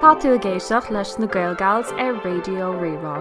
Tá tú ag éisteacht leis na GaelGals ar Raidio Rí-Rá.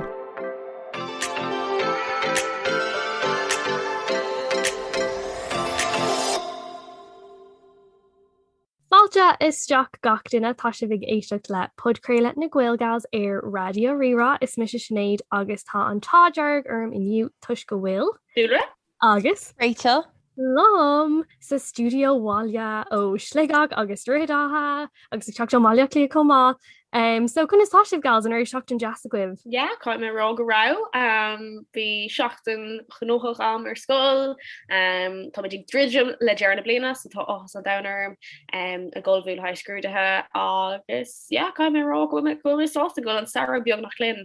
Fáilte isteach gach duine, tá sibh ag éisteacht le podchraoladh na GaelGals ar Raidio Rí-Rá, is mise Sinéad agus tá an t-ádh dearg orm inniu toisc go bhfuil Dúlra agus Rachel liom sa stiúideo bhuel ó Shligeach agus Droichead Átha agus ag teacht ó Bhaile Átha Cliath chomh maith. Em so conas tá sibh gals? An raibh seachtain deas agaibh? Yeah, caithfidh mé a rá go raibh. Em bhí seachtain ghnóthach agam ar scoil. Em táimid ag druidim le deireadh na bliana so tá áthas an domhain orm em ag ceartú a lán scrúduithe agus yeah caithfidh mé a rá go bhfuil mé go bhfuil mé sásta go bhfuil an samhradh beagnach linn.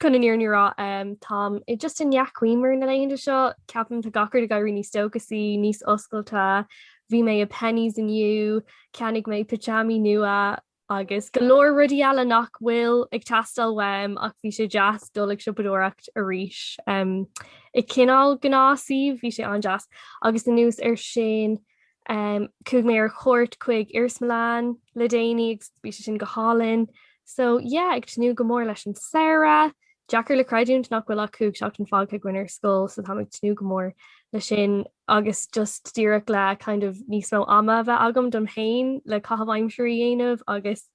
Chun an fhírinne a rá, táim just i ndea-ghiúmar na laethanta seo. Ceapaim tá gach rud ag éirí níos dóchasaí, níos oscailte. Bhí mé i Penneys inniu, cheannaigh mé pitseámaí nua agus go leor rudaí eile nach bhfuil ag teastáil uaim ach bhí sé deas dul ag siopadóireacht arís. I gcineál gnáthshuíomh bhí sé an-deas agus anuas air sin Ehm chuaigh mé ar chuairt chuig iarsmalann le déanaí agus bhí sé sin go hálainn. So yeah ag tnúth go mór leis an samhradh. Deacair le creidiúint nach bhfuil ach cúig seachtain fágtha againn ar scoil so táim ag tnúth go mór leis sin agus just díreach le kind of níos mó ama a bheith agam dom féin le caitheamh aimsirí a dhéanamh agus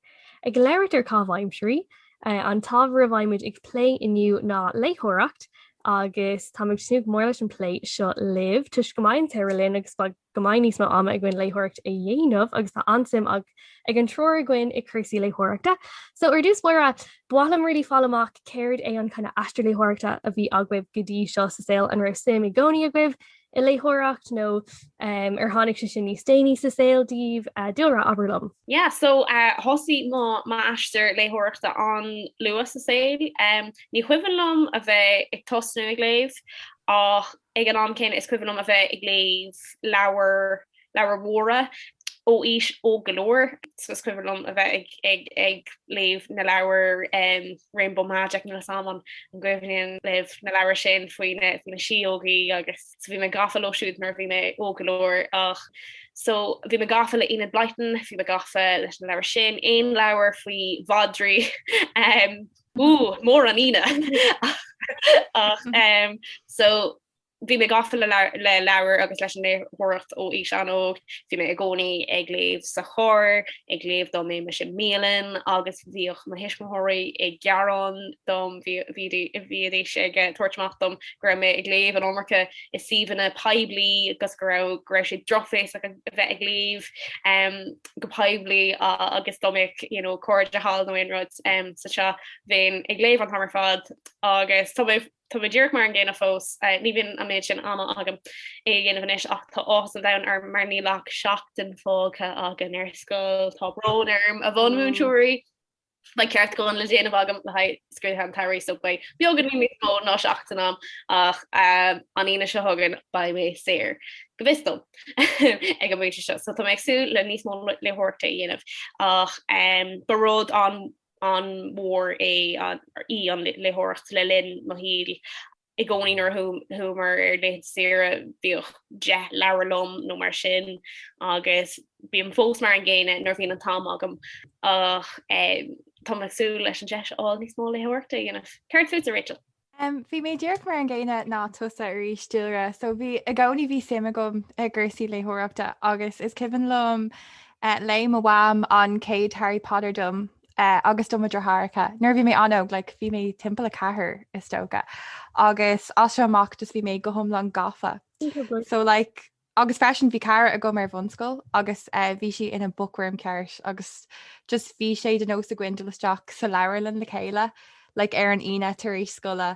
ag labhairt ar caitheamh aimsirí, An t-ábhar a bheimid ag plé inniu ná léitheoireacht agus táim ag tnúth go mór leis an bplé seo libh, toisc go mbeidh an samhradh linn agus beidh go mbeidh níos mó ama againn léitheoireacht a dhéanamh agus tá an-suim ag an triúr againn i cúrsaí léitheoireachta. So ar dtús báire, ba mhaith liom really fáil amach cad é an kind of aistear léitheoireachta a bhí agaibh go dtí seo sa saol, an raibh suim i gcónaí agaibh i léitheoireacht nó ar tháinig sé sin níos déanaí sa saol daoibh, Dúlra, abair liom. Yeah, so thosaigh m'aistear léitheoireachta an-luath sa saol. Ní chuimhin liom a bheith ag tosnú ag léamh, ach ag an am céanna is cuimhin liom a bheith ag léamh leabhar leabhair mhóra ó aois óg go leor, so is cuimhin liom a bheith ag léamh na leabhair Rainbow Magic nuair a bhí mé sna an cuimhin libh na leabhair sin faoi na síógaí agus so bhí mé gafa leo siúd nuair a bhí mé óg go leor ach so bhí mé gafa le Enid Blyton, bhí mé gafa leis na leabhair sin, aon leabhar faoi mhadraí ú mór an ine ach so Bhí mé gafa le leabhair agus leis an léitheoireacht ó aois an-óg. Bhí mé i gcónaí ag léamh sa charr, ag léamh domh, em, sa mbialann, agus bhíodh mo thuismitheoirí ag gearán dom, bhídís ag tabhairt amach dom go raibh mé ag léamh an iomarca i suíomhanna poiblí agus go raibh sé drochbhéasach a bheith ag léamh go poiblí agus domh ag, you know, cairde thall nó aon rud mar seo. Bhínn ag léamh an t-am ar fad agus tá mé Tá mé díreach mar an gcéanna fós. Ní bhíonn an méid sin ama agam é a dhéanamh anois ach tá áthas an domhain orm mar níl ach seachtain fágtha againn ar scoil. Tá brón orm, a bhunmhúinteoirí! Beidh ceartúcháin le déanamh agam le haghaidh scrúduithe an tsamhraidh so beidh beagáinín níos mó ná seachtain agam ach an Aoine seo chugainn beidh mé saor, go bhfios dom, ag an bpointe seo so tá mé ag súil le níos mó léitheoireachta a dhéanamh ach ba rud an. an-mhór é, í an léitheoireacht le linn mo shaoil i gcónaí. Nuair a chuamar ar laethanta saoire bhíodh deich leabhar liom nó mar sin agus bím fós mar an gcéanna nuair a bhíonn an t-am agam ach tá mé ag súil leis an deis a fháil níos mó léitheoireachta a dhéanamh. Céard fútsa, Rachel? Em, bhí mé díreach mar an gcéanna ná tusa arís Dúlra, so bhí i gcónaí bhí suim agam i gcúrsaí léitheoireachta agus is cuimhin liom eh, léigh mo mham an chéad Harry Potter dom eh, agus do mo dheartháireacha nuair a bhí mé an-óg, like bhí mé timpeall 4 is dócha agus as sin amach just bhí mé go hiomlán gafa. So like Agus freisin bhí cara agam ar bhunscoil agus bhí sí ina bookworm ceart agus just bhí sé de nós againn dul isteach sa leabharlann le chéile like ar an Aoine tar éis scoile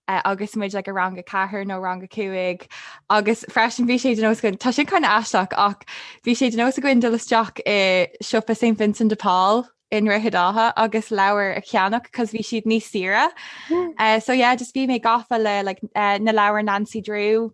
agus muid like i rang a ceathair nó rang a cúig agus freisin bhí sé de nós againn, tá sin kind of aisteach ach bhí sé de nós againn dul isteach i siopa Saint Vincent de Paul i nDroichead Átha agus leabhair a cheannach cos bhí siad níos saoire. Eh so yeah just bhí mé gafa le like na leabhair Nancy Drew,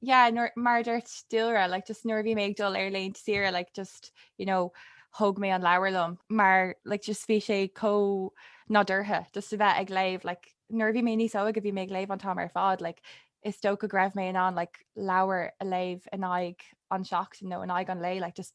yeah nuair mar a dúirt Dúlra like just nuair a bhí mé ag dul ar laethanta saoire like just you know thóg mé an leabhar liom mar like just bhí sé chomh nádúrtha just a bheith ag léamh like nuair a bhí mé níos óige bhí mé ag léamh an t-am ar fad like is dócha go raibh mé in ann like leabhar a léamh in aghaidh an tseachtain nó in aghaidh an lé like just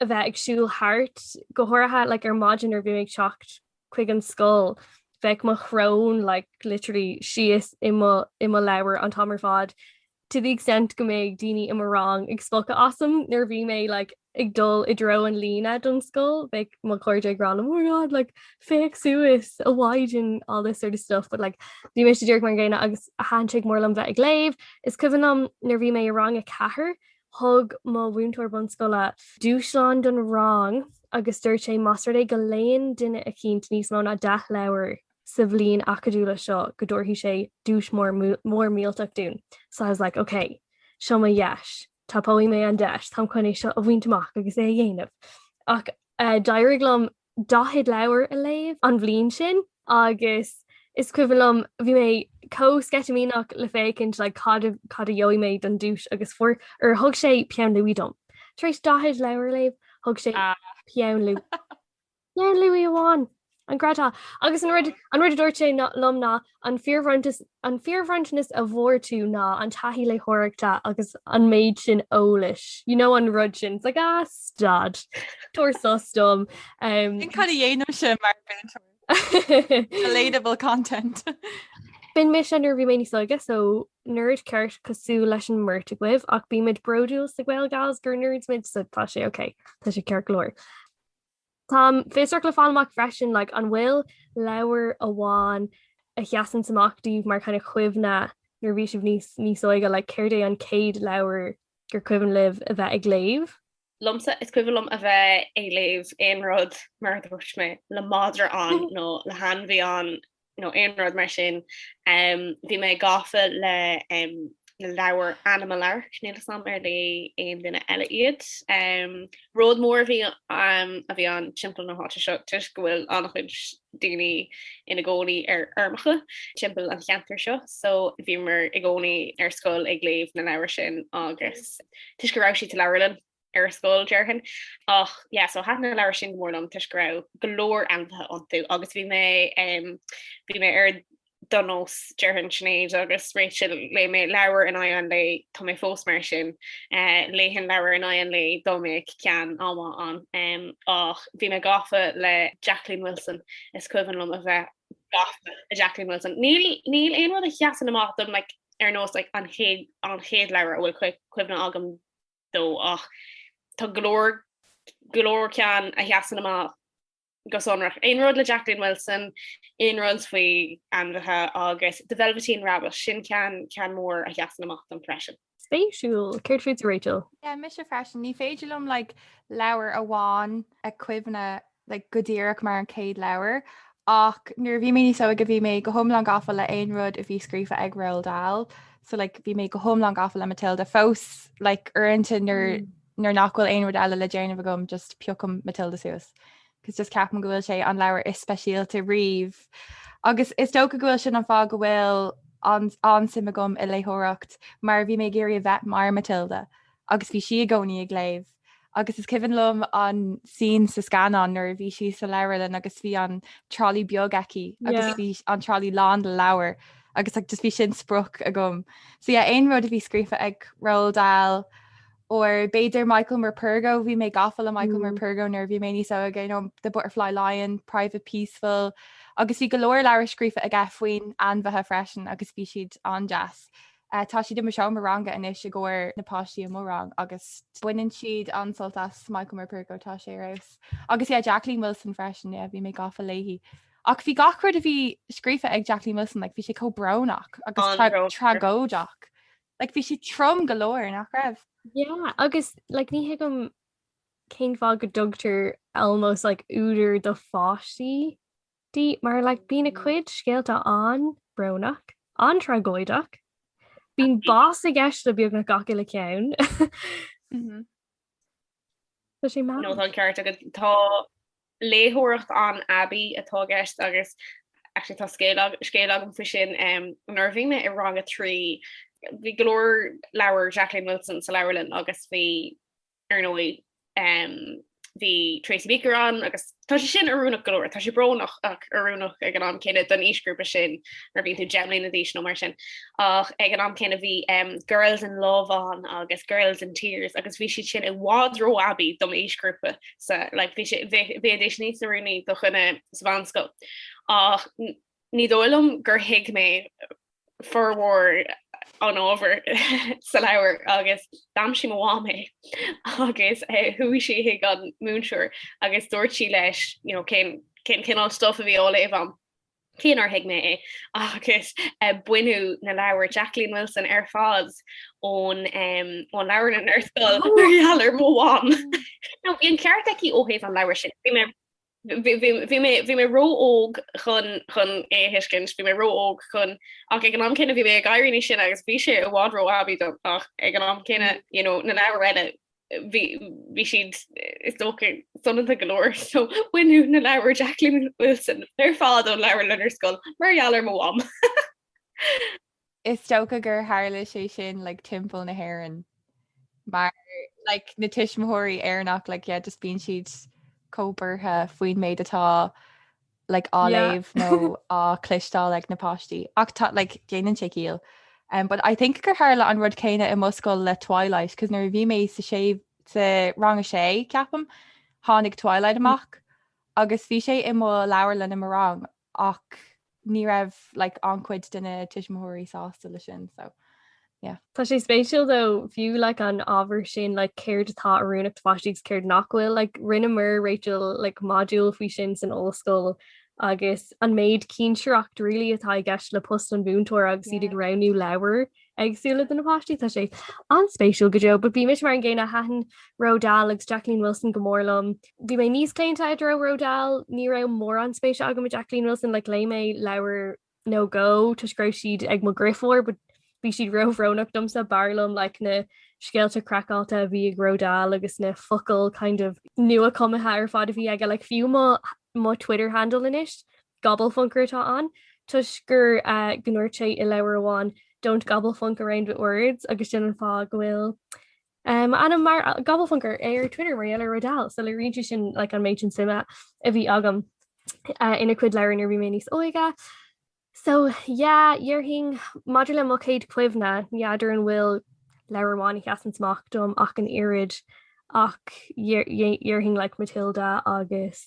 a bheith ag siúl thart, go háirithe like ar maidin nuair a bhí mé ag teacht chuig an scoil, bheadh mo shrón like literally síos i mo i mo leabhar an t-am ar fad, to the extent go mbeadh daoine i mo rang ag spochadh asam nuair a bhí mé like ag dul i dtreo an líne don scoil, bheadh mo chairde ag rá nó oh my god like féach suas, a Mhaighdean, all this sort of stuff but like bhí mé just díreach mar an gcéanna agus thaitin sé go mór liom bheith ag léamh. Is cuimhin liom nuair a bhí mé i rang a ceathair Thug mo mhúinteoir bunscoile dúshlán don rang agus dúirt sé más rud é go léann duine eicínt níos mó ná deich leabhar sa bhliain acadúil seo go dtabharfaidh sé duais mór mór millteach dúinn. So I was like OK, seo mo dheis, tapóidh mé an deis, táim chun é seo a bhaint amach agus é a dhéanamh. Ach d'éirigh liom. 40 leabhar a léamh an bhliain sin agus is cuimhin liom bhí mé chomh sceitimíneach le féachaint like cad cad a gheobhaidh mé don duais agus fuair or thug sé peann luaidhe dom. Tar éis 40 leabhar a léamh thug sé peann luaidhe. Peann luaidhe amháin! An greadadh! Agus an rud an rud a dúirt sé liom ná an fíorbhronntas An fíorbhronntanas a bhfuair tú ná an taithí léitheoireachta agus an méid sin eolais, you know an rud sin, it's like ah stad, tabhair sos dom. Sin cad a dhéanaim sin mar mhúinteoir. Relatable content. B'in mise nuair a bhí mé níos óige so nerd ceart cosúil leis an mbeirt agaibh ach bímid bródúil sa Gael Gals gur nerds muid so tá sé ok, tá sé ceart go leor. Táim fiosrach le fáil amach freisin, like, an bhfuil leabhar amháin a sheasann amach daoibh mar kind of chuimhne nuair a bhí sibh níos, níos óige, like, céard é an chéad leabhar gur cuimhin libh a bheith ag léamh? Liomsa, is cuimhin liom a bheith ag léamh aon rud, mar a dúirt mé, le madra ann nó le hainmhí ann nó aon rud mar sin. Bhí mé gafa leis na leabhair Animal Ark, níl 'fhios a'm ar léigh aon duine eile iad. Rud mór a bhí a bhí ann timpeall na háite seo toisc go bhfuil an-chuid daoine ina gcónaí ar fheirmeacha timpeall an cheantair seo, so bhíomar i gcónaí ar scoil ag léamh na leabhair sin agus toisc go raibh siad sa leabharlann, ar scoil déarfainn ach yeah so thaitin na leabhair sin go mór liom toisc go raibh go leor ainmhithe iontu agus bhí mé bhí mé ar do nós déarfainn Sinéad agus Rachel léigh mé leabhar in aghaidh an lae tá mé fós mar sin léifinn leabhar in aghaidh an lae dá mbeadh an t-am ann ach bhí mé gafa le Jacqueline Wilson is cuimhin liom a bheith gafa le Jacqueline Wilson níl níl aon rud a sheasann amach dom like ar nós like an chéad an chéad leabhar a bhfuil cuimhne agam de ach tá go leor go leor ceann a sheasann amach go sonrach. Aon rud le Jacqueline Wilson, aon rud faoi ainmhithe agus The Velveteen Rabbit, sin ceann ceann mór a sheasann amach dom freisin. Spéisiúil! Céard fútsa Rachel? Yeah, mise freisin. Ní féidir liom like leabhar amháin a chuimhneadh like go díreach mar an chéad leabhar, ach nuair a bhí mé níos óige bhí mé go hiomlán gafa le aon rud a bhí scríofa ag Roald Dahl, so like bhí mé go hiomlán gafa le Matilda, fós like uaireanta nuair mm. nuair nach bhfuil aon rud eile le déanamh agam just piocaim Matilda suas. Cos just ceapaim go bhfuil sé an leabhar is speisialta riamh. Agus is dócha go bhfuil sin an fáth go bhfuil an suim agam i léitheoireacht mar bhí mé ag iarraidh a bheith mar Matilda agus bhí sí i gcónaí ag léamh agus is cuimhin liom an scene sa scannán nuair a bhí sí sa leabharlann agus bhí an trolley beag aici agus bhí an trolley lán de leabhair agus like just bhí sin sprioc agam. So yeah, aon rud a bhí scríofa ag Roald Dahl or b'fhéidir Michael Morpurgo, bhí mé gafa le Michael Morpurgo nuair a bhí mé níos óige, you know, The Butterfly Lion, Private Peaceful, agus bhí go leor leabhar scríofa aige faoi ainmhithe freisin agus bhí siad an-deas. Tá siad i mo seomra ranga anois i gcomhair na páistí i mo rang agus baineann siad an-sult as Michael Morpurgo, tá sé ar fheabhas. Agus yeah, Jacqueline Wilson freisin, yeah, bhí mé gafa léi. Ach bhí gach rud a bhí scríofa ag Jacqueline Wilson, like bhí sé chomh brónach agus An-bhrónach. tragóideach. Like bhí sé trom go leor, nach raibh? Yeah, agus like ní thuigim cén fáth go dtugtar almost like údar do pháistí. di mar like bíonn a cuid scéalta an-brónach, an-tragóideach, bíonn bás i gceist le beagnach gach uile ceann. Tá sé mad. No tá an ceart agat. léitheoireacht an-aibí atá i gceist agus actually tá scéal ag- scéal agam faoi sin, em, nuair a bhí mé i rang a trí, bhí go leor leabhar Jacqueline Wilson sa leabharlann agus bhí Ar ndóigh, bhí Tracy Beaker ann agus tá sé sin oiriúnach go leor. Tá sé brónach ach oiriúnach ag an am céanna don aoisghrúpa sin, mar bíonn tú deich mbliana d'aois nó mar sin. Ach ag an am céanna bhí Girls in Love ann agus Girls in Tears agus bhí siad sin i bhfad ró-aibí do m'aoisghrúpa. So, like, bhí sé, bhí, bhí a dhéanamh níos oiriúnaí do dhuine sa mheánscoil. Ach ní dóigh liom gur thuig mé formhór an ábhair sa leabhar agus d'aimsigh mo mham é agus chuaigh sí chuig an múinteoir agus dúirt sí leis you know cén cén cineál stuff a bhí á léamh agam. Cé nár thuig mé é agus baineadh na leabhair Jacqueline Wilson ar fad ón um ón leabharlann ar scoil mar gheall ar mo mham. No bhí an ceart aici ó thaobh an leabhair sin. Bhí mé Bhí mé ró-óg chun é a thuiscint, bhí mé ró-óg chun, ach ag an am céanna bhí mé ag éirí níos sine agus bhí sé i bhfad ró-aibí dom, ach ag an am céanna, you know, na leabhair eile, bhí siad, is dócha, soineanta go leor, so baineadh na leabhair Jacqueline Wilson ar fad ón leabharlann ar scoil mar gheall ar mo mham. Is dócha gur tharla sé sin like timpeall na hÉireann mar like na tuismitheoirí Éireannach like yeah just bíonn siad chomh buartha faoin méid atá like á léamh nó á cloisteáil ag na páistí ach tá like déanann sé ciall. Um, but I think gur tharla an rud céanna i mo scoil le Twilight cos nuair a bhí mé sa sé sa rang a sé ceapaim tháinig Twilight amach agus bhí sé i mo leabharlann i mo rang ach ní raibh like an-chuid de na tuismitheoirí sásta leis sin so yeah. Tá sé spéisiúil though fiú like an ábhar sin like céard atá oiriúnach do pháistí agus céard nach bhfuil like rinneamar Rachel like module faoi sin san ollscoil agus an méid cinsireacht really atá i gceist le post an mhúinteoir agus iad ag roghnú leabhar éagsúla do na páistí. Tá sé an-spéisiúil go deo, but bhí mise mar an gcéanna thaitin Roald Dahl agus Jacqueline Wilson go mór liom. Bhí mé níos claonta i dtreo Roald Dahl, ní raibh mórán spéisiúil agam i Jacqueline Wilson, like léigh mé leabhar nó dhó toisc go raibh siad ag mo dheirfiúr, but bhí siad róbhrónach domsa, b'fhearr liom like na scéalta craiceáilte a bhí ag Roald Dahl agus na focail kind of nuachumtha ar fad a bhí aige, like fiú mo Twitter handle anois 'Gobblefunker' atá ann, toisc gur go ndúirt sé i leabhar amháin 'Don't gobblefunk around with words' agus sin an fáth go bhfuil m'ainm mar 'Gobblefunker' ar Twitter mar gheall ar Roald Dahl, so léiríonn sé sin like an méid sin suime a bhí agam ina cuid leabhar nuair bhí mé níos óige. So yeah, déarfainn maidir le mo chéad cuimhne, ní fheadar an bhfuil leabhar amháin a sheasann amach dom ach an oiread ach déarfainn like Matilda agus,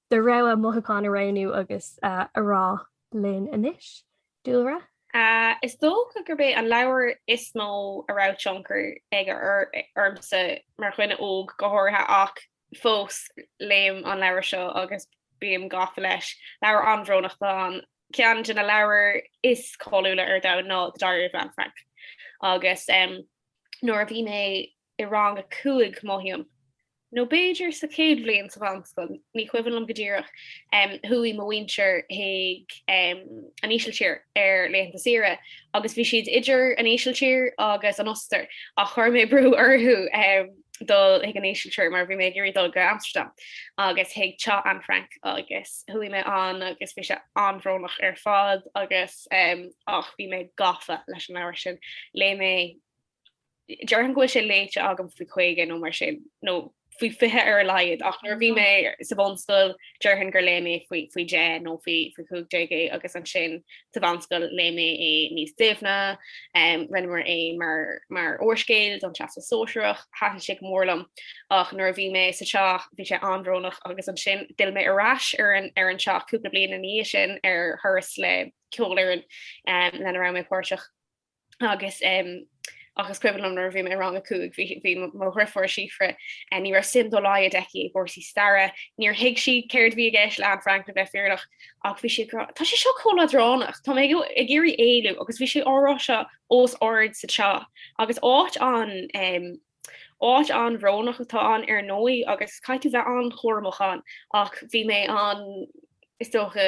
do rogha mothúchán a roghnú agus a rá linn anois. Dúlra? Is dócha gurb é an leabhar is mó a raibh tionchar aige ormsa mar dhuine óg go háirithe ach fós léim an leabhar seo agus bím gafa leis. Leabhar an-bhrónach, tá sé ar cheann de na leabhar is cáiliúla ar domhan ná The Diary of Anne Frank agus nuair a bhí mé i rang a cúig, mothaím, nó b'fhéidir sa chéad bhliain sa mheánscoil, ní cuimhin liom go díreach, chuaigh mo mhuintir chuig an Ísiltír ar laethanta saoire agus bhí siad idir an Ísiltír agus an Ostair ach chuir mé brú orthu dul chuig an Ísiltír mar bhí mé ag iarraidh dul go Amsterdam agus chuig teach Anne Frank agus chuaigh mé ann agus bhí sé an-bhrónach ar fad agus ach bhí mé gafa leis an leabhar sin, léigh mé déarfainn go bhfuil sé léite agam faoi 50 nó mar sin nó faoi 20 ar a laghad ach nuair bhí mé sa bhunscoil déarfainn gur léigh mé faoi faoi 10 nó faoi faoi 15 é agus ansin sa mheánscoil léigh mé é níos doimhne, um rinneamar é mar mar úrscéal don Teastas Sóisearach, thaitin sé go mór liom ach nuair a bhí mé sa teach bhí sé an-bhrónach agus ansin d'fhill mé ar ais ar an ar an teach cúpla bliain ina dhiaidh sin ar thuras le ceolfhoireann um lena raibh mé páirteach. agus agus is cuimhin liom nuair a bhí mé i rang a cúig, bhí bhí mo mo dheirfiúr Síofra eh, ní raibh suim dá laghad aici i gcúrsaí staire, níor thuig sí céard a bhí i gceist le Anne Frank le bheith fírinneach, ach bhí sí ag rá, 'Tá sé seo chomh leadránach, tá mé ag ió- ag iarraidh éalú, agus bhí sí á rá seo os ard sa teach, agus áit an-, em, Áit an-bhrónach atá ann ar ndóigh agus caithfidh tú bheith an-chúramach ann ach bhí mé an- is dócha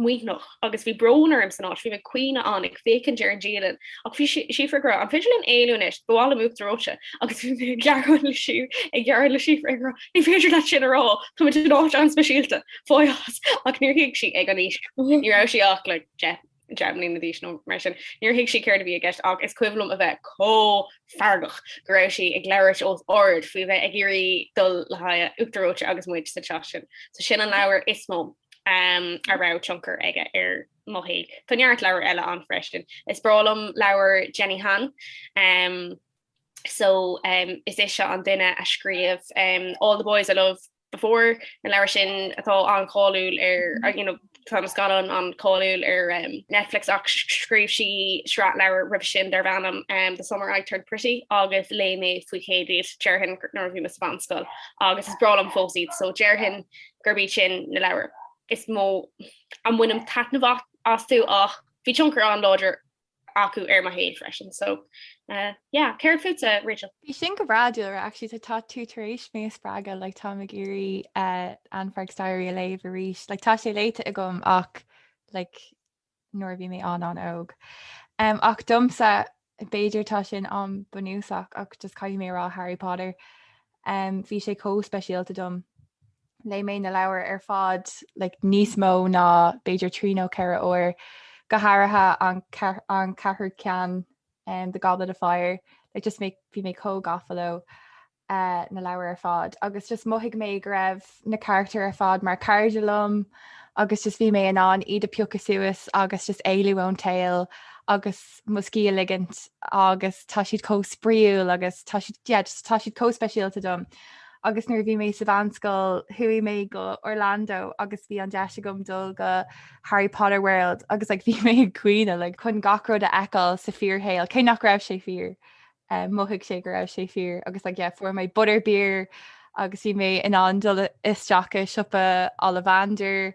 maoithneach agus bhí brón orm san áit, bhí mé ag caoineadh ann ag féachaint ar an dialann ach bhí Síofra ag rá, an féidir linn éalú anois, ba mhaith liom uachtar reoite agus bhí mé ag gearán le Sí- ag gearán le Síofra ag rá, ní féidir leat sin a rá, tá muid in áit an-speisialta, fág as! Ach níor thuig sí ag an aois, ní raibh sí ach like deich. deich mbliana d'aois nó mar sin. Níor thuig sí céard a bhí i gceist ach is cuimhin liom a bheith chomh feargach go raibh sí ag labhairt os ard faoi bheith ag iarraidh dul le haghaidh uachtar reoite agus muid sa teach sin. So sin an leabhar is mó um a raibh tionchar aige ar mo shaol. Tá neart leabhar eile ann freisin. Is breá liom leabhair Jenny Han um so um is é seo an duine a scríobh um All the Boys I Love Before, na leabhair sin atá an-cháiliúil ar, you know, tá na scannáin an-cháiliúil ar Netflix ach scríobh sí sraith leabhar roimhe sin darb ainm The Summer I Turned Pretty agus léigh mé faoi chéad iad, déarfainn, nuair a bhí mé sa mheánscoil agus is breá liom fós iad, so déarfainn gurb iad sin na leabhair is mó a mbainim taitneamh astu ach bhí tionchar an-láidir acu ar mo shaol freisin so yeah céard fútsa Rachel? Bhí sin go breá, Dúlra, actually tá tú tar éis mé a spreagadh like táim ag iarraidh Anne Frank's Diary a léamh arís like tá sé léite agam ach like nuair a bhí mé an- an-óg um, ach domsa b'fhéidir tá sin an-bhunúsach ach just caithfidh mé rá Harry Potter um, bhí sé chomh speisialta dom Léigh mé na leabhair ar fad like níos mó ná b'fhéidir trí nó ceithre uair, go háirithe an an ceathrú ceann um The Goblet of Fire like just mé bhí mé chomh gafa leo uh na leabhair ar fad agus just mhothaigh mé go raibh na carachtair ar fad mar cairde liom agus just bhí mé in ann iad a phiocadh suas agus just éalú ón tsaol agus mo scíth a ligint agus tá siad chomh spraíúil agus tá siad yeah just tá siad chomh speisialta dom. Agus nuair a bhí mé sa mheánscoil chuaigh mé go Orlando agus bhí an deis agam dul go Harry Potter World agus like bhí mé ag caoineadh like chun gach rud a fheiceáil sa fhíorshaol cé nach raibh sé fíor eh, mhothaigh sé go raibh sé fíor agus like yeah fuair mé butter beer agus bhí mé in ann dul isteach i siopa Ollivanders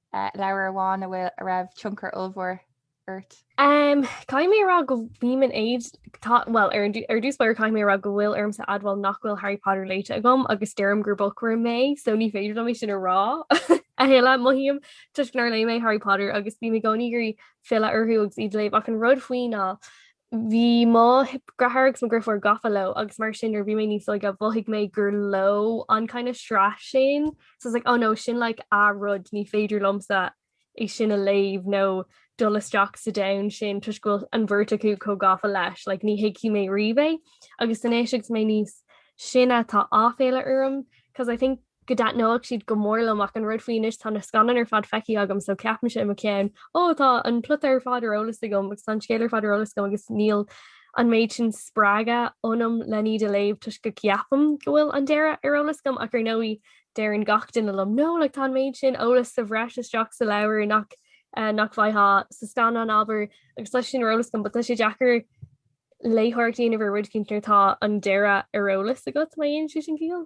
leabhar amháin a bhfuil a raibh tionchar ollmhór ort? Caithfidh mé a rá go mbím in éad, bhuel, ar dtús b'fhéidir caithfidh mé a rá go bhfuil ormsa admháil nach bhfuil Harry Potter léite agam agus deirim gur bookworm mé, so ní féidir liom é sin a rá a thuilleadh. Mothaím toisc nár léigh mé Harry Potter agus bím i gcónaí ag iarraidh filleadh orthu agus iad a léamh ach an rud faoi ná Bhí mo dheartháir agus mo dheirfiúr gafa leo agus mar sin nuair bhí mé níos óige mhothaigh mé gur leo an kind of sraith sin so I was like oh no sin like a rud ní féidir liomsa é sin a léamh nó dul isteach sa domhan sin toisc go bhfuil an bheirt acu chomh gafa leis like ní thuigfidh mé riamh é agus anois agus mé níos sine tá aiféala orm 'cause I think go dtaitneodh siad go mór liom ach an rud faoi anois tá na scannáin ar fad feicthe agam so ceapaimse i mo cheann ó tá an plota ar fad ar eolas agam agus tá an scéal ar fad ar eolas agam agus níl an méid sin spreagtha ionam lena iad a léamh toisc go gceapaim go bhfuil an deireadh ar eolas agam ach ar ndóigh deireann gach duine liom no like tá an méid sin eolas sa bhreis istigh sa leabhar nach nach bhfaighfeá sa scannán abair agus tá sé sin ar eolas agam but tá sé deacair léitheoireacht a dhéanamh ar rud éicint nuair atá an deireadh ar eolas agat má dhéanann sé sin ciall.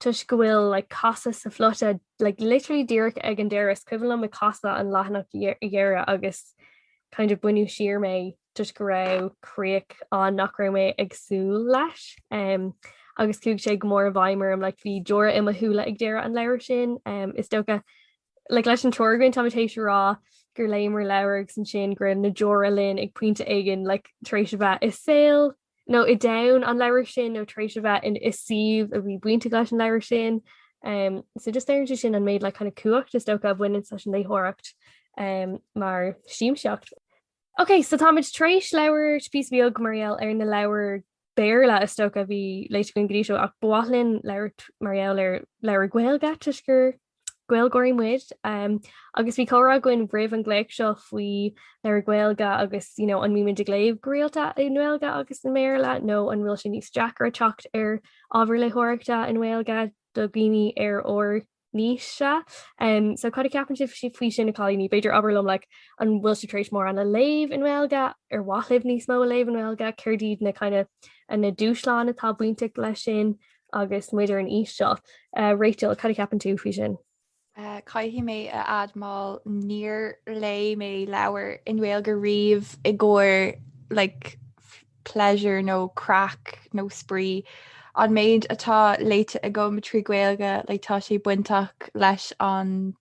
toisc go bhfuil like casadh sa phlota like literally díreach ag an deireadh, is cuimhin liom ag casadh an leathanach dheiridh agus kind of baineadh siar mé toisc go raibh críoch ann nach raibh mé ag súil leis um agus chuaigh sé go mór i bhfeidhm orm like bhí deora i mo shúile ag deireadh an leabhair sin um is dócha like leis an triúr againn táimid tar éis a rá gur léamar leabhar agus ansin go raibh na deora linn ag pointe éigin like tar éis a bheith i saol nó i ndomhan an leabhair sin nó tar éis a bheith i suíomh a bhí bainteach leis an leabhar sin. Um so just léiríonn sé sin an méid like kind of cumhacht is dócha a bhaineann leis an léitheoireacht um mar shiamsaíocht. Ok so táimid tar éis labhairt píosa beag mar gheall ar na leabhair Béarla is dócha a bhí léite againn go dtí seo ach ba mhaith linn labhairt mar gheall ar leabhair Gaeilge toisc gur Gaeilgeoirí muid agus bhí comhrá againn roimh an nglaoch seo faoi leabhair Ghaeilge agus you know an mbímid ag léamh go rialta i nGaeilge agus i mBéarla nó an bhfuil sé níos deacra teacht ar ábhar léitheoireachta i nGaeilge do dhaoine ar ár n-aoise. Um so cad a cheapann sibh faoi sin, a chailíní? B'fhéidir abair liom like an bhfuil sibh tar éis mórán a léamh i nGaeilge, ar mhaith libh níos mó a léamh i nGaeilge, céard iad na kind of na dúshláin atá bainteach leis sin Agus muid ar an aois seo, Rachel, cad a ceapann tú faoi sin? Caithfidh mé a admáil níor léigh mé leabhar i nGaeilge riamh i gcomhair like pleasure nó craic nó spraoi. An méid atá léite agam trí Gaeilge le tá sé bainteach leis an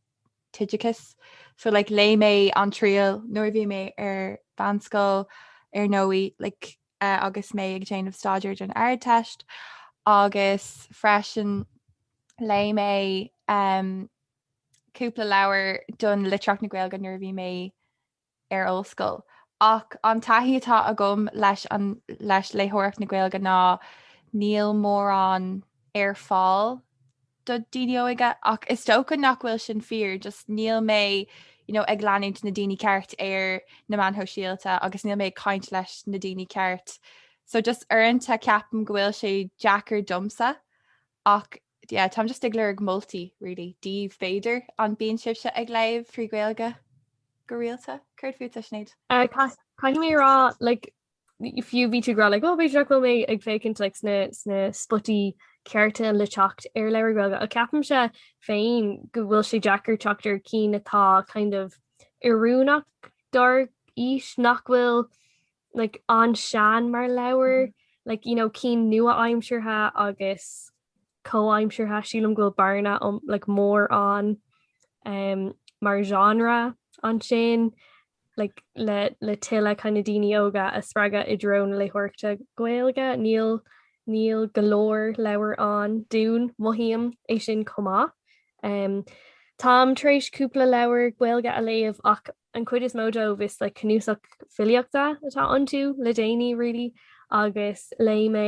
t-oideachas. So like léigh mé An Triail nuair a bhí mé ar mheánscoil ar ndóigh like agus mé ag déanamh staidéir don Ardteist agus freisin léigh mé cúpla leabhar don litríocht na Gaeilge nuair a bhí mé ar ollscoil. Ach an taithí atá agam leis an leis léitheoireacht na Gaeilge ná níl mórán ar fáil do daoine óige ach is dócha nach bhfuil sin fíor, just níl mé you know ag leanúint na daoine ceart ar na meáin shóisialta agus níl mé ag caint leis na daoine ceart so just uaireanta ceapaim go bhfuil sé deacair domsa ach yeah táim just ag lorg moltaí really daoibh b'fhéidir an bíonn sibhse ag léamh trí Ghaeilge go rialta? Céard fútsa Sinéad? Caithfidh mé a rá like fiú bhí tú ag rá like, oh b'fhéidir nach bhfuil mé ag féachaint like, sna, sna spotaí cearta le teacht ar leabhair Gaeilge ach ceapaimse féin go bhfuil sé deacair teacht ar cinn atá kind of oiriúnach dár aois nach bhfuil like, an-sean mar leabhair like, you know, cinn nua-aimseartha agus comhaimseartha. Sílim go bhfuil bearna like mór ann um mar genre ansin like le le tuilleadh kind of daoine óga a spreagadh i dtreo na léitheoireachta Gaeilge. Níl níl go leor leabhar ann dúinn, mothaím é sin chomh maith. Um Táim tar éis cúpla leabhar Gaeilge a léamh ach an chuid is mó dóibh is like cnuasach filíochta atá iontu le déanaí really agus léigh mé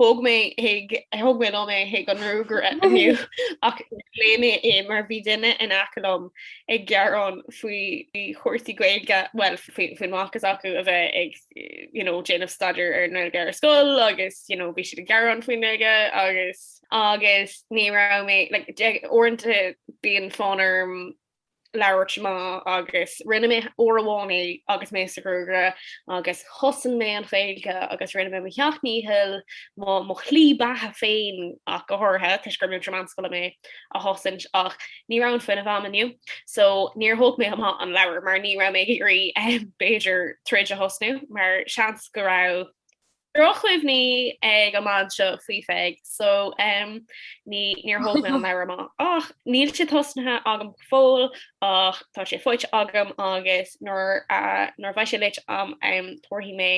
Thóg mé ag, thóg mé liom é chuig an ngruagaire inniu, ach léigh mé é mar bhí duine in aice liom ag gearán faoi chúrsaí Gaeilge, bhuel, faoin mac s'acu a bheith ag, you know, déanamh staidéir ar an nGaeilge ar scoil agus, you know, bhí siad ag gearán faoin nGaeilge agus, agus ní raibh mé, like, uaireanta bíonn fonn orm labhairt amach agus rinne mé uair amháin é agus mé sa ghruagaire agus chosain mé an Ghaeilge agus rinne mé mo sheacht ndícheall, mo mo shlí beatha féin ach go háirithe toisc gur múinteoir meánscoile mé, a chosaint ach ní raibh an fuinneamh a'm inniu so níor thóg mé amach an leabhar mar ní raibh mé ag iarraidh b'fhéidir troid a thosnú mar seans go raibh Drochchuimhní ag an mbean seo faoi Pheig so em ní níor thóg mé an leabhar amach ach níl sé tosnaithe agam go fóill ach tá sé faighte agam agus nuair a nuair a bheidh sé léite agam em tabharfaidh mé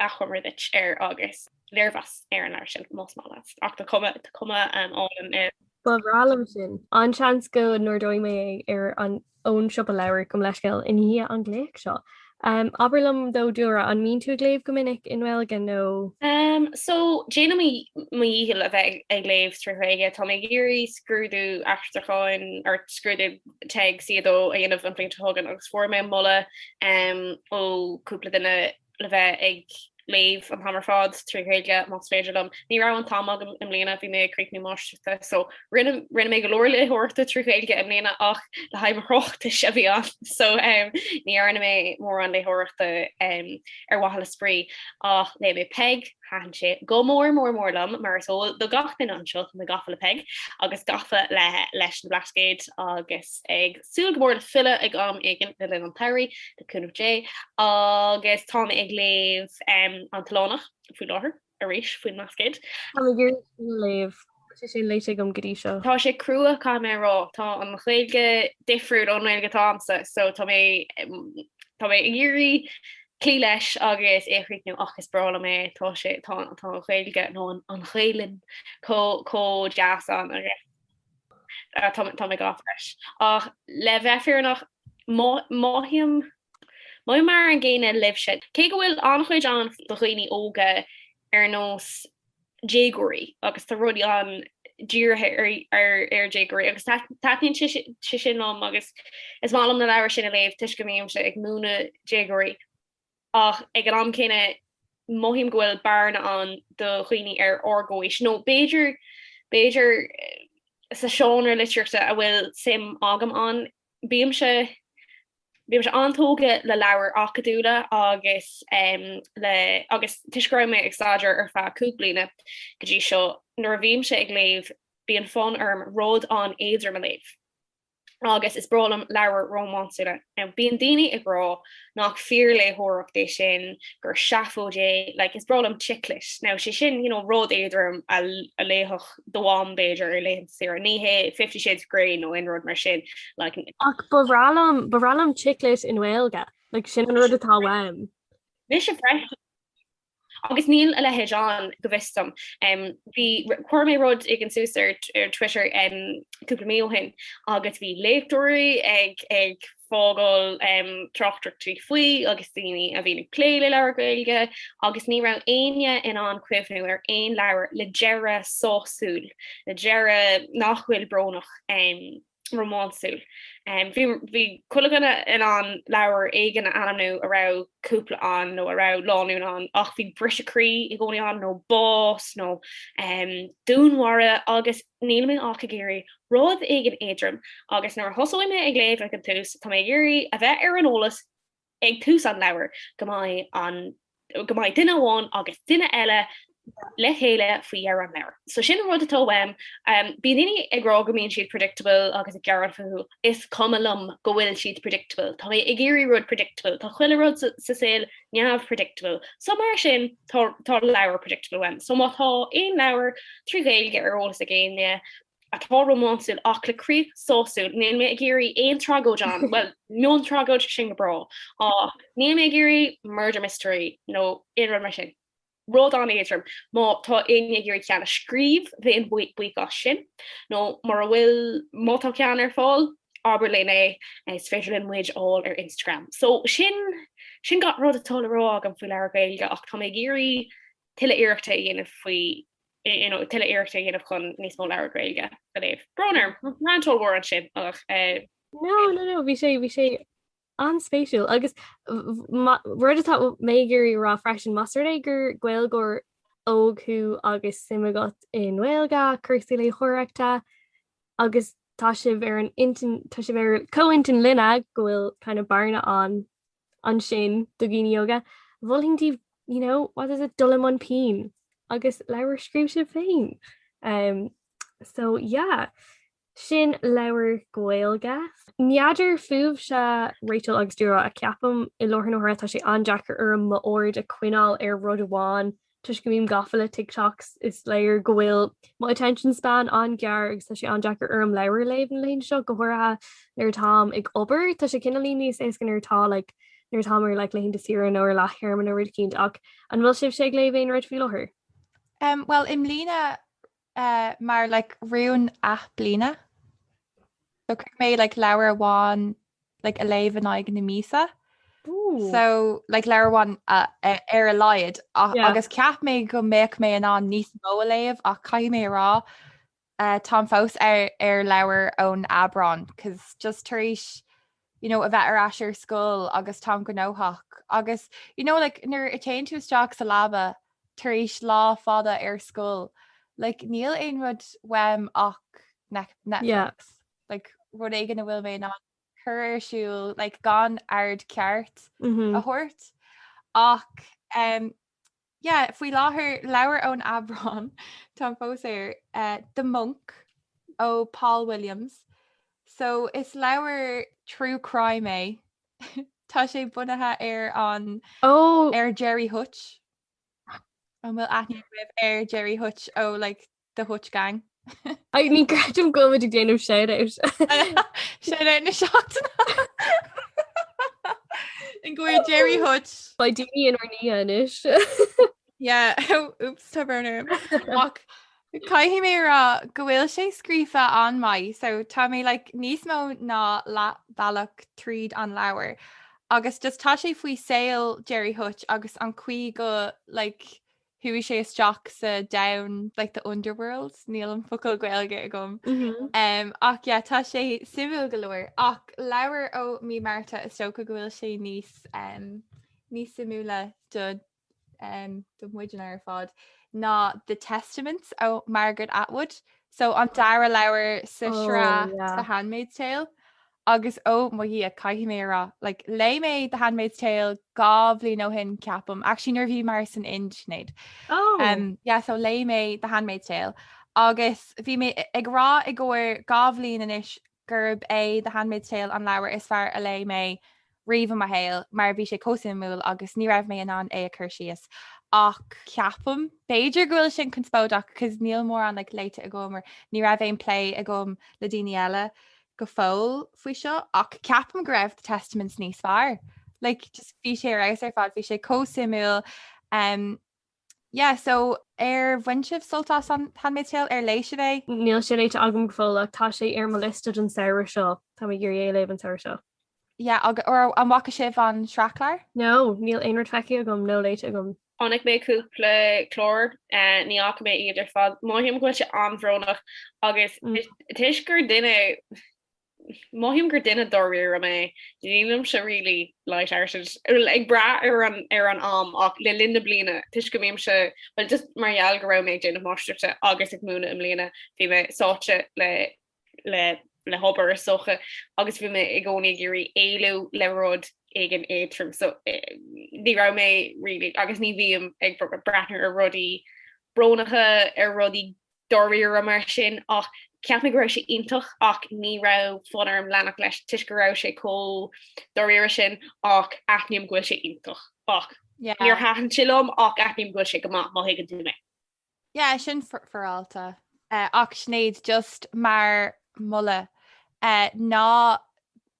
achoimre duit air agus léirmheas ar an leabhar sin más maith leatsa ach tá cuma tá cuma em álainn air. Ba bhreá liom sin. An-seans go n-ordóidh mé é ar an ón siopa leabhar gabh mo leithscéal i ndiaidh an ghlaoch seo. Abair liom Eadaoin, an mbíonn tú ag léamh go minic i nGaeilge nó. Em, so, déanaim mo dhícheall a bheith ag léamh trí Ghaeilge. Tá mé ag iarraidh scrúdú aistriúcháin, or scrúdú TEG C2 a dhéanamh an bhliain seo chugainn agus fuair mé moladh, em, ó cúpla duine, le bheith ag léamh an t-am ar fad trí Ghaeilge más féidir liom. Ní raibh an t-am agam i mbliana, bhí mé ag críochnú máistreachta, so rinne mé go leor léitheoireachta trí Ghaeilge i mbliana ach le haghaidh mo thráchtais a bhí ann, so ní dhearna mé mórán léitheoireachta ar mhaithe le spraoi. Ach léigh mé Peig, thaitin sé go mór mór mór liom, mar is eol do gach duine anseo tá mé gafa le Peig agus gafa leis na Blascaoid agus ag súil go mór le filleadh ag am éigin le linn an tsamhraidh, le cúnamh Dé, agus tá mé ag léamh An tOileánach faoi láthair arís faoin mBlascaod. Táim ag iarraidh sin a léamh, tá sé sin léite agam go dtí seo. Tá sé crua, caithfidh mé a rá. Tá an Ghaeilge difriúil ón nGaeilge atá agamsa, so tá mé tá mé ag iarraidh cloí leis agus é a chríochnú, ach is breá liom é, tá sé tá an Ghaeilge, nó an Ghaelainn, chomh chomh deas ann agus. Tá mé ag gabháil leis. Ach le bheith fírinneach, mothaím mar an gcéanna libhse. Cé go bhfuil an-chuid ann do dhaoine óga ar nós déagóirí, agus tá rudaí ann dírithe ar dhéagóirí, agus taitníonn sé sin liom agus is maith liom na leabhair sin a léamh toisc go mbímse ag múineadh déagóirí. ach ag an am céanna mothaím go bhfuil bearna ann do dhaoine ar ár gcomhaois, nó b'fhéidir, b'fhéidir sa seánra litríochta a bhfuil suim agam ann. Bímse, bímse an-tógtha le leabhair acadúla agus le, agus toisc go raibh mé ag staidéar ar feadh cúig bliana go dtí seo, nuair a bhímse ag léamh bíonn fonn orm rud an-éadrom a léamh. agus is breá liom leabhair rómánsúla. Now bíonn daoine ag rá nach fíorléitheoireacht é sin, gur seafóid é, like is breá liom chick lit. Now sé sin you know rud éadrom a a léifeadh do mham b'fhéidir ar laethanta saoire, ní hé Fifty Shades of Grey nó aon rud mar sin like. Ach ba bhreá liom ba bhreá liom chick lit i nGaeilge, like sin an rud atá uaim. Mise freisin Agus níl a leithéid ann, go bhfios dom. Bhí, chuir mé rud éigin suas ar Twitter cúpla mí ó shin agus bhí léachtóirí ag fágáil tráchtaireachtaí faoi agus daoine a bhíonn ag plé le leabhair Gaeilge agus ní raibh éinne in ann cuimhniú ar aon leabhar le deireadh sásúil, le deireadh nach bhfuil brónach. rómánsúil. Bhí chuile dhuine in ann leabhar éigin a ainmniú a raibh cúpla ann nó a raibh lánúin ann ach bhí briseadh croí i gcónaí ann nó bás nó dúnmhaire agus níl mé ach ag iarraidh rud éigin éadrom agus nuair a thosóidh mé ag léamh ag an tús, tá mé ag iarraidh a bheith ar an eolas Ag tús an leabhair, go mbeidh an, go mbeidh duine amháin agus duine eile le chéile faoi dheireadh an leabhair. So sin an rud atá uaim. Bíonn daoine ag rá go mbíonn siad predictable agus ag gearán fúthu. Is cuma liom go bhfuil siad predictable. Tá mé ag iarraidh rud predictable. Tá chuile rud sa saol neamh-predictable. So mar sin, tá, tá leabhar predictable uaim. So má tá aon leabhar trí Ghaeilge ar eolas ag éinne, atá rómánsúil ach le críoch sásúil, níl mé ag iarraidh aon tragóid ann, bhuel, mion tragóid sin go breá, ach níl mé ag iarraidh murder mystery nó aon rud mar sin. Rud an-éadrom, má tá éinne ag iarraidh ceann a scríobh, bheinn buíoch as sin, nó mura bhfuil, má tá ceann ar fáil, abair linn é, is féidir linn muid a fháil ar Instagram. So, sin, sin gach rud atá le rá agam faoi leabhair Ghaeilge, ach tá mé ag iarraidh tuilleadh iarrachta a dhéanamh faoi. tuilleadh iarrachta a dhéanamh chun níos mó leabhar Gaeilge a léamh. Brón orm, rant ollmhór ansin, ach. No, no, no, bhí sé, bhí sé an-spéisiúil agus rud atá mé ag iarraidh a rá freisin, más rud é gur Gaeilgeoir óg thú agus suim agat i nGaeilge, cúrsaí léitheoireachta agus tá sibh ar an intinn, tá sibh ar comhintinn linne go bhfuil kind of bearna ann ansin do dhaoine óga, mholfainn daoibh, you know, what is it, dul i mbun pinn agus leabhair a scríobh sibh féin. Um, so yeah, sin leabhar Gaeilge. N'fheadar fúibhse, Rachel agus Dúró, ach ceapaim i láthair na huaire, tá sé an-deacair orm m'aird a choinneáil ar rud amháin Toisc go mbím gafa le TikToks is léir go bhfuil mo attention span an-ghearr agus tá sé an-deacair orm leabhar a léamh na laethanta seo, go háirithe nuair atáim ag obair. Tá sé cineálaí níos éasca nuair atá like nuair atá mé ar like laethanta saoire nó ar leath-théarma nó rud éicint ach an bhfuil sibhse ag léamh aon rud faoi láthair? Em bhuel i mbliana mar like rún athbhliana. So chuir mé like leabhar amháin like a léamh in aghaidh na míosa. Ooh. So like leabhar amháin uh, a- ar a laghad a- Yeah. agus cheap mé go mbeadh mé in ann níos mó a léamh ach caithfidh mé a rá uh, táim fós ar, ar leabhar ón Aibreán 'cause just tar éis you know, a bheith ar ais ar scoil agus tá mé gnóthach agus you know like nuair a téann tú isteach sa leaba tar éis lá fada ar scoil like níl aon rud uaim ach Netflix like rud éigin a bhfuil mé in ann cur ar siúl like gan aird ceart a thabhairt ach yeah, faoi láthair leabhar ón Aibreán, tá mé fós ar uh, The Monk ó Paul Williams. So is leabhar true crime é. Tá sé bunaithe ar an oh. ar Jerry Hutch. An bhfuil aithne agaibh ar Jerry Hutch ó like, the Hutch gang. Ní chreidim go bhfuil muid ag déanamh shout out. Shout out na seachtaine. i gcomhair Jerry Hutch. Beidh daoine inár ndiaidh anois. Yeah, oops tá brón orm. Ach caithfidh mé a rá go bhfuil sé scríofa an-mhaith, so tá mé like níos mó ná leathbhealach tríd an leabhar. Agus just tá sé faoi saol Jerry Hutch agus an chaoi go like Chuaigh sé isteach sa domhan like the underworld, níl an focal Gaeilge agam. Um, ach yeah, tá sé suimiúil go leor ach leabhar ó mí Márta is dócha go bhfuil sé níos um, níos suimiúla do um, do muidne ar fad ná The Testaments ó Margaret Atwood. So an dara leabhar sa Oh, sraith yeah. The Handmaid's Tale Agus oh mo Dhia, caithfidh mé a rá, like, léigh mé The Handmaid's Tale dhá bhliain ó shin, ceapaim, actually nuair a bhí muid san Ind, Sinéad. Oh. Um, yeah, so léigh mé The Handmaid's Tale agus bhí mé ag rá i gcomhair dhá bhliain anois gurb é The Handmaid's Tale an leabhar is fearr a léigh mé riamh i mo shaol mar bhí sé chomh suimiúil agus ní raibh mé in ann é a chur síos ach ceapaim, b'fhéidir go bhfuil sin conspóideach cause níl mórán like léite agam or ní raibh aon plé agam le daoine eile go fóill faoi seo ach ceapaim go raibh The Testaments níos fearr. Like just bhí sé ar fheabhas ar fad, bhí sé chomh suimiúil um, yeah so Ar bhain sibh sult as an Handmaid's Tale ar léigh sibh é? Níl sé léite agam go fóill ach tá sé ar mo liosta don samhradh seo, Tá mé ag iarraidh é a léamh an samhradh seo. yeah agus or an bhfaca sibh an sraithchlár? No, níl aon rud feicthe agam nó léite agam. Chonaic mé cúpla clár, ní fhaca mé iad ar fad. Mothaím go bhfuil sé an-bhrónach agus toisc gur duine. Mothaím gur duine dáiríre mé, nílimse really light-hearted, bhuel ag brath ar an am ach le linn na bliana toisc go mbímse, bhuel just mar gheall go raibh mé ag déanamh máistreachta agus ag múineadh i mbliana bhí mé sáite le le hobair is dócha agus bhí mé i gcónaí ag iarraidh éalú le rud éigin éadrom so ní raibh mé really, agus ní bhím ag breathnú ar rudaí brónacha, ar rudaí dáiríre mar sin ach cheap mé go raibh sé iontach ach ní raibh fonn orm leanacht leis toisc go raibh sé chomh dáiríre sin ach aithním go bhfuil sé iontach ach níor thaitin sé liom ach aithním go bhfuil sé go maith má thuigeann tú mé. Yeah, sin fair enough. Ach Sinéad, just mar moladh, ná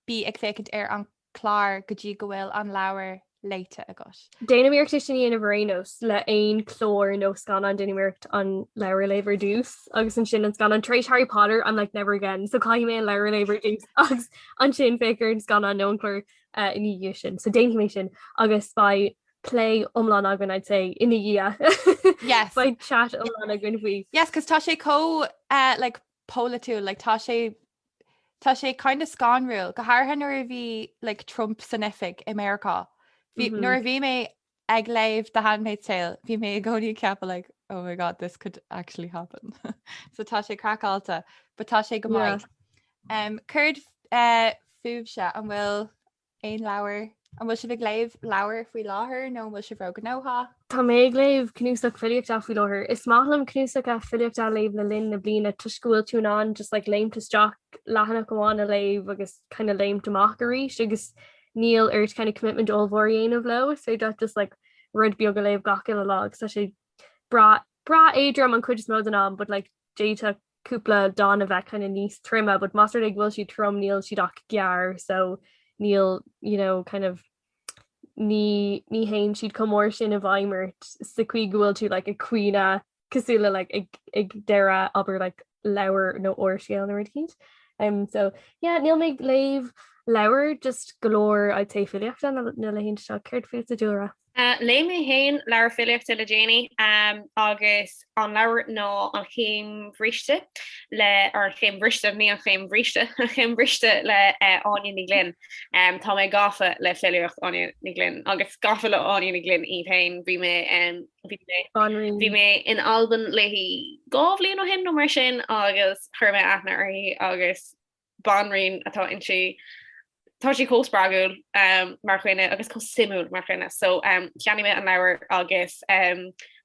bí ag féachaint ar an clár go dtí go bhfuil an leabhar léite agat. Déanaim iarracht é sin a dhéanamh ar aon nós, le haon chlár nó scannán déanaim iarracht an leabhar a léamh ar dtús agus ansin an scannán. Tar éis Harry Potter I'm like never again, so caithfidh mé an leabhar a léamh ar dtús agus ansin féachaint ar an scannán nó an clár ina dhiaidh sin. So déanfaidh mé sin agus beidh plé iomlán againn I'd say ina dhiaidh. Yes. Beidh chat iomlán againn faoi. Yes, 'cause tá sé chomh like polaitiúil, like tá sé tá sé kind of scanrúil, go háirithe nuair a bhí like Trump san oifig i Meiriceá. Bhí Mhm. nuair a bhí mé ag léamh The Handmaid's Tale, bhí mé i gcónaí ag ceapadh like, oh my god, this could actually happen. so tá sé craiceáilte, but tá sé go Yeah. maith. Um, Céard fúibhse an bhfuil Aon leabhar? An bhfuil sibh ag léamh leabhar faoi láthair nó an bhfuil sibh róghnóthach? Tá mé ag léamh cnuasach filíochta faoi láthair. Is maith liom cnuasaigh filíochta a léamh le linn na bliana toisc go bhfuil tú in ann just like léim isteach, leathanach amháin a léamh agus kind of léim amach arís agus níl ort kind of commitment ollmhór a dhéanamh leo. So is féidir leat just like rud beag a léamh gach uile lá agus tá sé breá breá éadrom an chuid is mó den am but like d'fhéadfadh cúpla dán a bheith kind of níos troime but más rud é go bhfuil siad trom níl siad ach gearr so níl you know kind of ní ní théann siad chomh mór sin i bhfeidhm ort sa chaoi go bhfuil tú like ag caoineadh cosúil le like ag ag deireadh abair like leabhar nó úrscéal nó rud éicint umm so yeah níl mé ag léamh leabhar just go leor I'd say filíochta na na laethanta seo. Céard fútsa Dúlra? Léigh mé féin leabhar filíochta le déanaí agus an leabhar ná An Chéim Bhríste le, or An Chéim Bhriste, ní An Chéim Bhríste, An Chéim Bhriste le Áine Ní Ghlinn. Tá mé gafa le filíocht Áine Ní Ghlinn agus gafa le Áine Ní Ghlinn í féin. Bhí mé, bhí mé, bhí mé in Albain léi dhá bhliain ó shin nó mar sin agus chuir mé aithne uirthi agus, banríon atá inti, tá sí chomh spreagúil mar dhuine agus chomh suimiúil mar dhuine. So cheannaigh mé an leabhar agus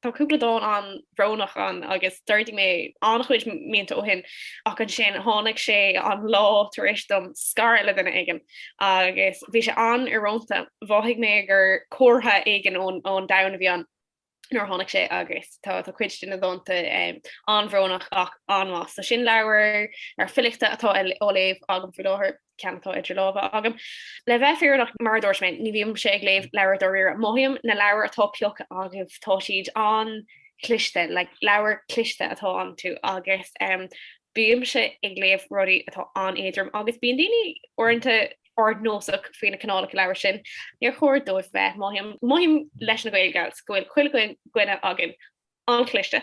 tá cúpla dán an-bhrónach ann agus d'ordaigh mé an-chuid míonna ó shin ach ansin tháinig sé an lá tar éis dom scaradh le duine éigin agus bhí sé an-íorónta. Mhothaigh mé gur comhartha éigin ón domhan a bhí ann. nuair a tháinig sé agus tá cuid de na dánta an-bhrónach ach an-mhaith. So sin leabhar eile filíochta atá á léamh agam faoi láthair, ceann atá idir lámha agam. Le bheith fírinneach, mar a dúirt mé, ní bhímse ag léamh leabhar dáiríre. Mothaím na leabhair atá pioctha agaibh, tá siad an-chliste, like leabhair cliste atá iontu agus bímse ag léamh rudaí atá an-éadrom agus bíonn daoine uaireanta ardnósach faoi na cineálacha leabhar sin, níor chóir dóibh bheith mothaím mothaím leis na Gaeilgeoirí go bhfuil chuile dhuine againn an-chliste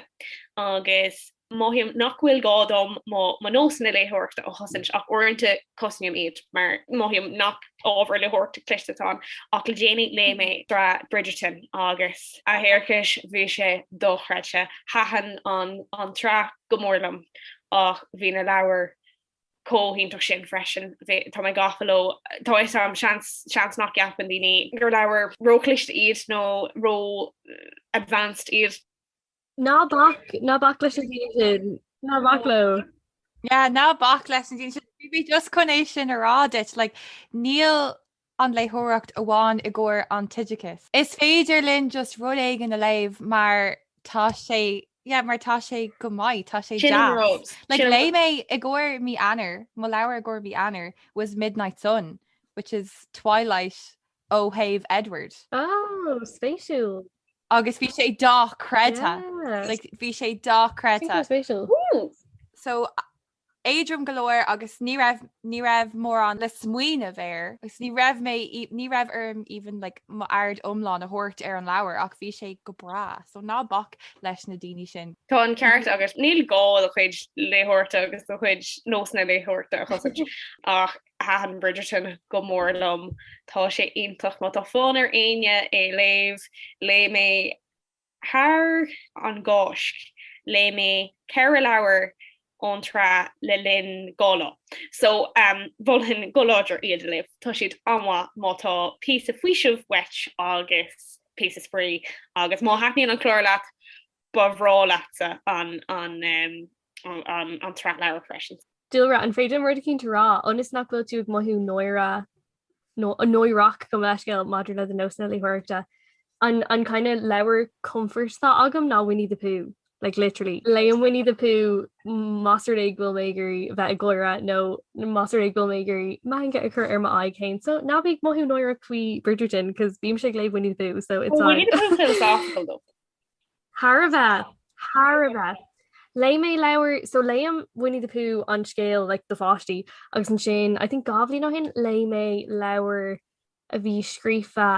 agus mothaím nach bhfuil gá dom mo mo nósanna léitheoireachta a chosaint ach uaireanta cosnaím iad mar mothaím nach ábhar léitheoireachta cliste atá ann ach le déanaí léigh mé sraith Bridgerton agus a thiarcais bhí sé dochreidthe. Thaitin an an tsraith go mór liom ach bhí na leabhair chomh hiontach sin freisin. Tá mé gafa leo. Tá a fhios agam, seans, seans nach gceapann daoine gur leabhair ró-chliste iad nó ró-advanced iad. Ná bac, ná bac leis na daoine sin, ná bac leo. Yeah, ná bac leis na daoine sin. Bhí mé just chun é sin a rá duit, like, níl, an léitheoireacht amháin i gcomhair an t-oideachas. Is féidir linn just rud éigin a léamh mar tá sé, yeah, mar tá sé go maith, tá sé deas. Sin an rud. Like, léigh mé i gcomhair mí Eanáir, mo leabhar i gcomhair mhí Eanáir was Midnight Sun, which is Twilight ó thaobh Edward. Oh, spéisiúil. Agus bhí sé dochreidthe. Yeah. Like, bhí sé dochreidthe. Super spéisiúil. Woo! So, éadrom go leor agus ní raibh, ní raibh mórán le smaoineamh air agus ní raibh mé, ní raibh orm even like mo aird iomlán a thabhairt ar an leabhar ach bhí sé go breá. So ná bac leis na daoine sin. Tá an ceart agat, níl gá do chuid léitheoireachta agus do chuid nósanna léitheoireachta a chosaint ach thaitin Bridgerton go mór liom. Tá sé iontach. Má tá fonn ar éinne é léamh, léigh mé thar an gCáisc, léigh mé ceithre leabhar ón tsraith le linn dhá lá, so mholfainn go láidir iad a léamh, tá siad an-mhaith má tá píosa faoisimh uait agus píosa spraoi, agus má thaitníonn an clár leat, ba bhreá leatsa an tsraith. an tsraith leabhar freisin. Dúlra, an féidir rud éicint a rá, ionas nach bhfuil tú ag mothú náire nó náireach gabh mo leithscéal maidir le do nósanna léitheoireachta? An kind of leabhar comfort atá agam ná Winnie the Pooh, like literally. Léim Winnie the Pooh más rud é go bhfuil mé ag iarraidh bheith ag gáire nó más rud é go bhfuil mé ag iarraidh meangadh a chur ar m'aghaidh féin. So ná bí ag mothú náireach faoi Bridgerton, 'cause bímse ag léamh Winnie the Pooh, so it's fine. Winnie the Pooh philosophical though. Thar a bheith! Thar a bheith! Léigh mé leabhar, so léigh mé Winnie the Pooh an scéal like do pháistí agus ansin I think dhá bhliain ó shin léigh mé leabhar a bhí scríofa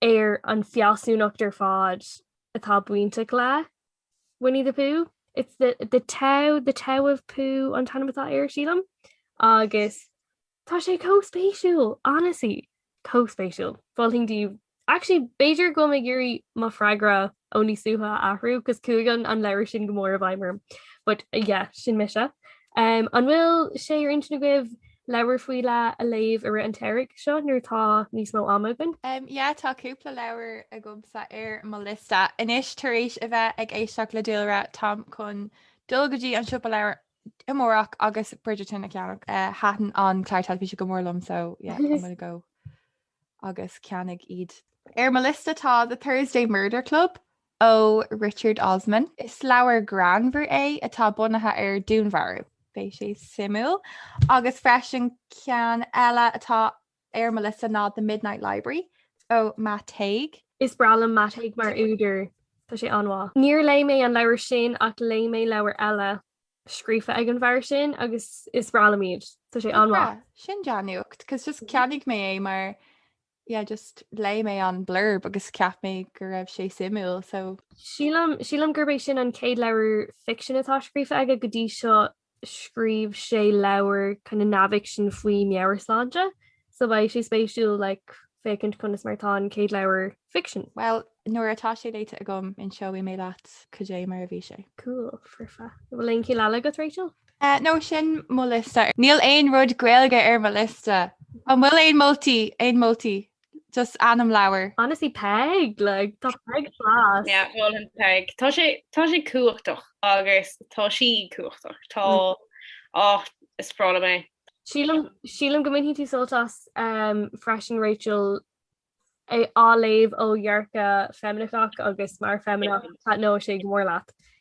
ar an fealsúnacht ar fad atá bainteach le Winnie the Pooh. It's the the Tao the Tao of Pooh an t-ainm atá air sílim agus Tá sé chomh spéisiúil, honestly, chomh spéisiúil. Falling daoibh. Actually, b'fhéidir go bhfuil mé ag iarraidh mo freagra ó níos luaithe a athrú, agus chuaigh an an leabhar sin go mór i bhfeidhm orm. But, yeah, sin mise. An bhfuil sé ar intinn agaibh leabhar faoi leith a léamh i rith an tsamhraidh seo nuair atá níos mó ama againn? Um, yeah, tá cúpla leabhar agamsa ar mo liosta. Anois, tar éis a bheith ag éisteacht le Dúlra, táim chun dul go dtí an siopa leabhar Amárach agus Bridgerton a ceannach. Thaitin an clár teilifíse go mór liom so yeah I'm gonna go agus ceannóidh iad. Ar mo liosta tá The Thursday Murder Club ó Richard Osman. Is leabhar greannmhar é atá bunaithe ar dúnmharú. Beidh sé suimiúil. Agus freisin ceann eile atá Ar mo liosta ná The Midnight Library ó Matt Haig. Is breá liom Matt Haig mar údar, tá sé an-mhaith. Níor léigh mé an leabhar sin ach léigh mé leabhair eile scríofa ag an bhfear sin agus is breá liom iad, tá sé an-mhaith. Sin dea-nuacht cos just ceannaigh mé é mar yeah just léigh mé an blurb agus cheap mé go raibh sé suimiúil so. Sílim, sílim gurb é sin an chéad leabhar ficsin atá scríofa aige go dtí seo scríobh sé leabhar kind of neamhfhicsin faoi meabhairshláinte so beidh sé spéisiúil like féachaint conas mar atá an chéad leabhar ficsin. Bhuel, nuair atá sé léite agam, inseoidh mé leat cad é mar a bhí sé. Cool, foirfe. Bhfuil aon cheann eile agat, Rachel? Eh, no, sin mo liosta. Níl aon rud Gaeilge ar mo liosta. An bhfuil aon moltaí, aon moltaí? just ainm leabhair. Honestly Peig! Like tá Peig class. Yeah mholfainn Peig. Tá sé tá sé cumhachtach agus tá sí cumhachtach. Tá áh is breá liom é. Sílim sílim go mbainfidh tú sult as freisin Rachel á léamh ó dhearcadh feimineach agus mar feimineach taitneoidh sé go mór leat.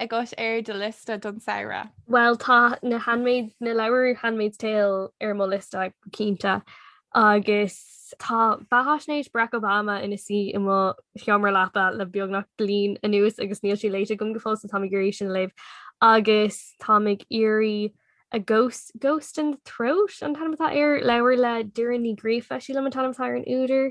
agat ar do liosta don samhradh? Bhuel tá na handmaid, na leabhar Handmaid's Tale ar mo liosta go cinnte agus tá beathaisnéis Barack Obama ina suí i mo sheomra leapa le beagnach bliain anuas agus níl sé léite agam go fóill so tá mé ag iarraidh sin a léamh agus tá mé ag iarraidh A Ghost, Ghost in the Throat an t-ainm atá air? leabhar le Doireann Ní Ghríofa, sílim an t-ainm atá ar an údar,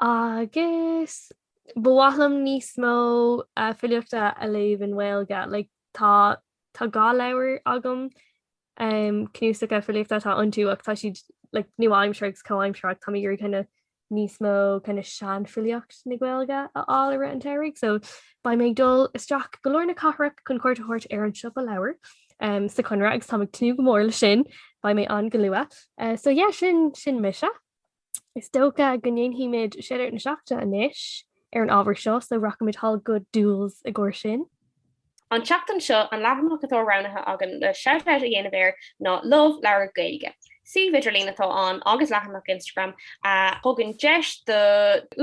Agus ba mhaith liom níos mó filíochta a léamh i nGaeilge, like, tá, tá dhá leabhar agam, cnuasacha filíochta atá iontu ach tá siad like nua-aimseartha agus comhaimseartha. Táim ag iarraidh kinda níos mó kinda seanfhilíocht na Gaeilge a fháil i rith an tsamhraidh so beidh mé ag dul isteach go lár na cathrach chun cuairt a thabhairt ar an siopa leabhar sa Chonradh agus táim ag tnúth go mór leis sin. Beidh mé ann go luath. So yeah, sin, sin mise. Is dócha go ndéanfaimid shoutout na seachtaine anois ar an ábhar seo so rachaimid thall go Dools i gcomhair sin. An tseachtain seo, an leathanach atá roghnaithe againn le shoutout a dhéanamh air ná Love Leabhar Gaeilge. Suíomh idirlín atá ann agus leathanach Instagram a thugann deis do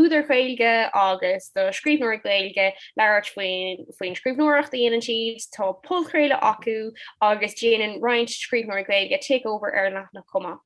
údair Ghaeilge agus do scríbhneoirí Gaeilge labhairt faoi, faoin scríbhneoireacht a dhéanann siad. Tá podchraoladh acu agus déanann roinnt scríbhneoirí Gaeilge takeover ar an leathanach chomh maith.